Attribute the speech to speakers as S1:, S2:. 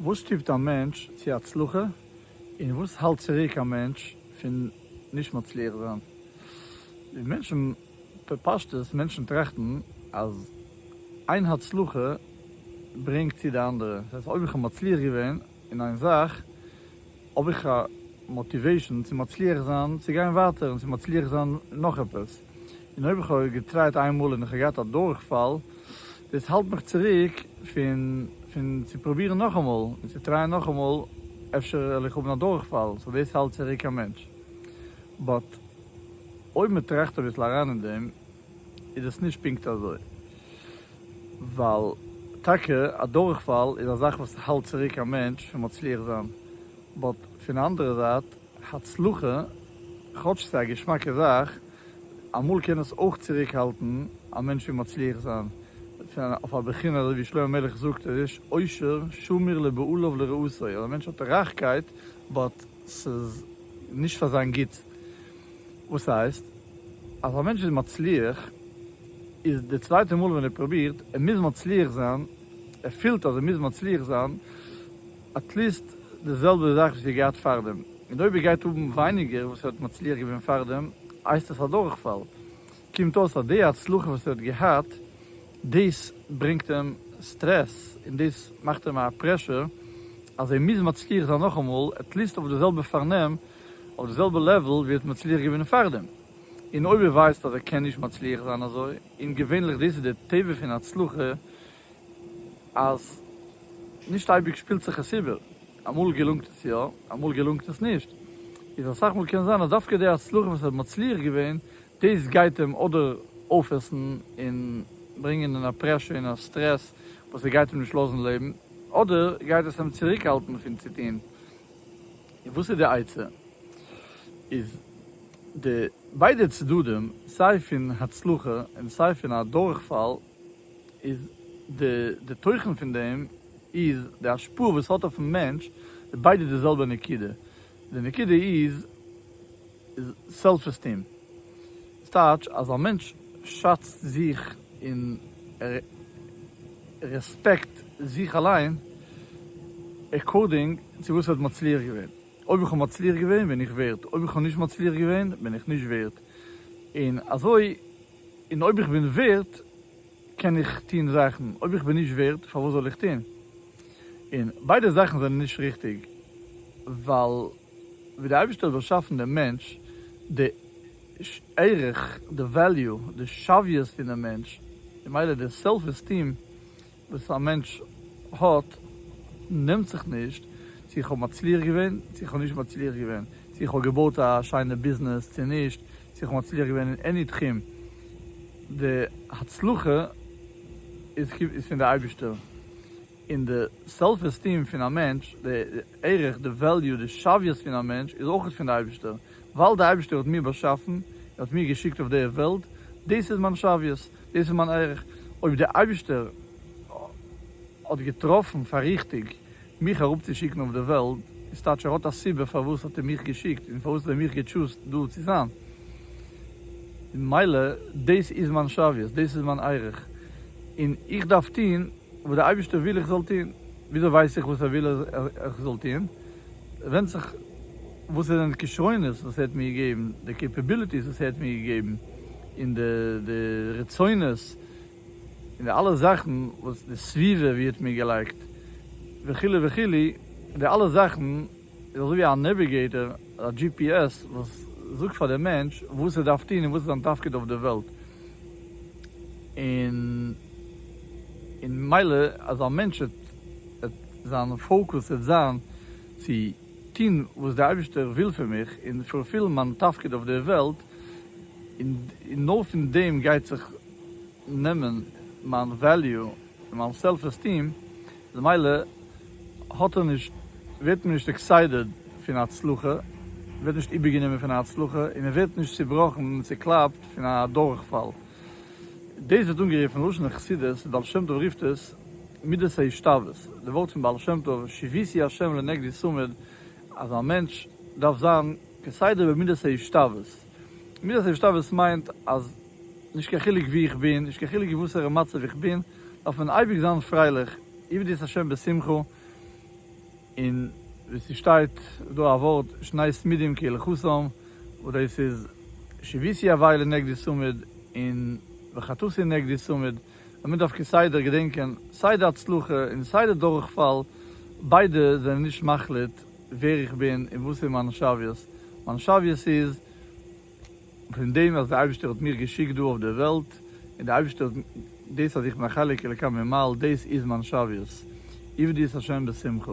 S1: וואס שטופט א מענטש צו הצלחה און וואס האלט צוריק א מענטש פון נישט מצליח זיין? ווי מענטשן, בפשטות, מענטשן טראכטן אז איין הצלחה ברענגט צו די אנדערע, דאס הייסט אויב איך האב מצליח געווען אין איין זאך האב איך א מאטיוועישן צו מצליח זיין צו גיין ווייטער און צו מצליח זיין נאך עפעס. און אויב איך האב געטרייט איין מאל און איך האב געהאט א דורכפאל, דאס האלט מיך צוריק פון פון צו פרובירן נאכאמאל און צו טרייען נאכאמאל, אפשר וועל איך האבן א דורכפאל, סאו דאס האלט צוריק א מענטש. באט אויב מען טראכט אביסל אריין אין דעם איז דאס נישט פונקט אזוי, ווייל טאקע א דורכפאל איז א זאך וואס האלט צוריק א מענטש פון מצליח זיין, באט פון א אנדערע זייט, הצלחה, כאטש ס'איז א געשמאקע זאך, אמאל קען עס אויך צוריקהאלטן א מענטש פון מצליח זיין, פון אויף א בחינה אזוי ווי שלמה המלך זאגט ער איש עושר שמיר לבעליו ולרעותיו, אז א מענטש האט רייכקייט באט ס'איז נישט פאר זיין גוטס, וואס הייסט אז א מענטש איז מצליח איז די צווייטע מאל ווען ער פרובירט ער מוז מצליח זיין, ער פילט אז ער מוז מצליח זיין, עטליסט די זעלבע זאך ווי ס'איז געהאט פארדעם, און אויב איר גייט האבן ווייניגער וואס איר האט מצליח געווען פארדעם, הייסט עס א דורכפאל. קומט אויס אז די הצלחה וואס איר האט געהאט, דאס ברענגט אים סטרעס, און דאס מאכט אים א פרעשור אז ער מוז מצליח זיין נאכאמאל, עטליסט אויף די זעלבע פארנעם, אויף די זעלבע לעוול ווי ער האט מצליח געווען פארדעם. און אויב ער ווייסט אז ער קען נישט מצליח זיין אזוי, און געווענליך דאס איז די טבע פון הצלחה, אז נישט אייביג שפילט זיך עס איבער, אמאל געלונגט עס יא, אמאל געלונגט עס נישט, איז אסאך מאל קען זיין אז דווקא די הצלחה וואס ער האט מצליח געווען, דאס גייט אים אדער אויפעסן און ברענגען אין א פרעשור און א סטרעס וואס ער גייט אים נישט לאזן לעבן, אדער גייט עס אים צוריקהאלטן פון צו טון. און וואס איז די עצה? איז די ביידע צדדים, סיי פון הצלחה און סיי פון א דורכפאל, איז די די תוכן פון דעם איז די השפעה וואס האט אויפן מענטש איז ביידע די זעלבע נקודה די נקודה איז איז סעלף עסטים דאס טייטש אז א מענטש שאצט זיך און ער רעספעקט זיך אליין עקארדינג צו וואס ער האט מצליח געווען אויב איך האב מצליח געווען בין איך ווערד אויב איך האב נישט מצליח געווען בין איך נישט ווערד און אזוי און אויב איך בין ווערד קען איך טון זאכן, אויב איך בין נישט ווערד פארוואס זאל איך טון? און ביידע זאכן זענען נישט ריכטיג, ווייל ווי דער אייבערשטער האט באשאפן דעם מענטש, די ערך, די וועליו, די שוויות פונעם מענטש, ממילא די סעלף עסטיעם, וואס א מענטש האט נעמט זיך נישט צו איך האב מצליח געווען צו איך האב נישט מצליח געווען, צו איך האב געבויט א שיינע ביזנעס צו נישט, צו איך האב מצליח געווען אין עני תחום, די הצלחה איז פון די אייבישטער, און די סעלף עסטיעם פון א מענטש, די ערך, די וועליו, די שוויות פון א מענטש איז אויך פון די אייבישטער, ווייל די אייבישטער האט מיר באשאפן, ער האט מיר געשיקט אויף די וועלט, דאס איז מיין שוויות, דאס איז מיין ערך, אויב דער אייבישטער האט געטראפן פאר ריכטיג מיך אראפצושיקן אויף די וועלט, איז טייטש ער האט א סיבה פארוואס האט ער מיך געשיקט און פארוואס האט ער מיך געטשוזט דא צו זיין, ממילא דאס איז מיין שוויות, דאס איז מיין ערך, און איך דארף טון. וואס דער אייבערשטער וויל איך זאל טון, וויאזוי ווייס איך וואס ער וויל איך זאל טון, ווענדט זיך וואס זענען די כשרונות וואס ער האט מיר געגעבן, די קעפעביליטיס וואס ער האט מיר געגעבן, און די רצונות, און די אלע זאכן וואס די סביבה ווי האט מיר געלייגט, וכו' וכו', די אלע זאכן. איז אזויווי א נעוויגעיטער, א דזשי פי עס, וואס זאגט פאר די מענטש וואס ער דארף טון און וואס איז זיין תפקיד אויף די וועלט. און און מילא אז א מענטש וועט וועט זיין פאוקוס וועט זיין צו טון וואס די אייבישטער וויל פון מיך און פולפילן מיין תפקיד אויף די וועלט, און און נאר פון דעם גייט זיך נעמען מיין וועליו און מיין סעלף עסטיעם, למילא האט ער נישט, ווערט מען נישט עקסיידעד פון הצלחה, מען ווערט נישט איבערגענומען פון א הצלחה, און מען ווערט נישט צובראכן און צוקלאפט פון א דורכפאל. דאס ווערט אנגערופן אין לשון חסידות, בעל שם טוב רופט עס, מידת ההשתוות, די ווארט פון בעל שם טוב, שיביתי השם לנגדי צמיד, אז א מענטש דארף זיין כסדר במידת ההשתוות. מיר האט אפשר וואס מיינט אז נישט קיין חילוק וואו איך בין, נישט קיין חילוק אין וואסערע מצב איך בין, דארף מען אייביג זיין פרייליך, עבדו את השם בשמחה, און ווי ס'שטייט דא א ווארט שני צמידים כהלכתם, אודאי ס'איז שביתי אביי לנגדי צמיד און וחטאתי נגדי צמיד, און מען דארף כסדר געדענקען סיי די הצלחה און סיי די דורכפאל, ביידע זענען נישט מחליט, ווער איך בין און וואס איז מיין שוויות. מיין שוויות איז פון דעם אז דער אייבערשטער האט מיך געשיקט דא אויף דער וועלט, און דער אייבערשטער האט דאס אז איך בין א חלק אלוקי ממעל, דאס איז מיין שוויות. עבדו את השם בשמחה.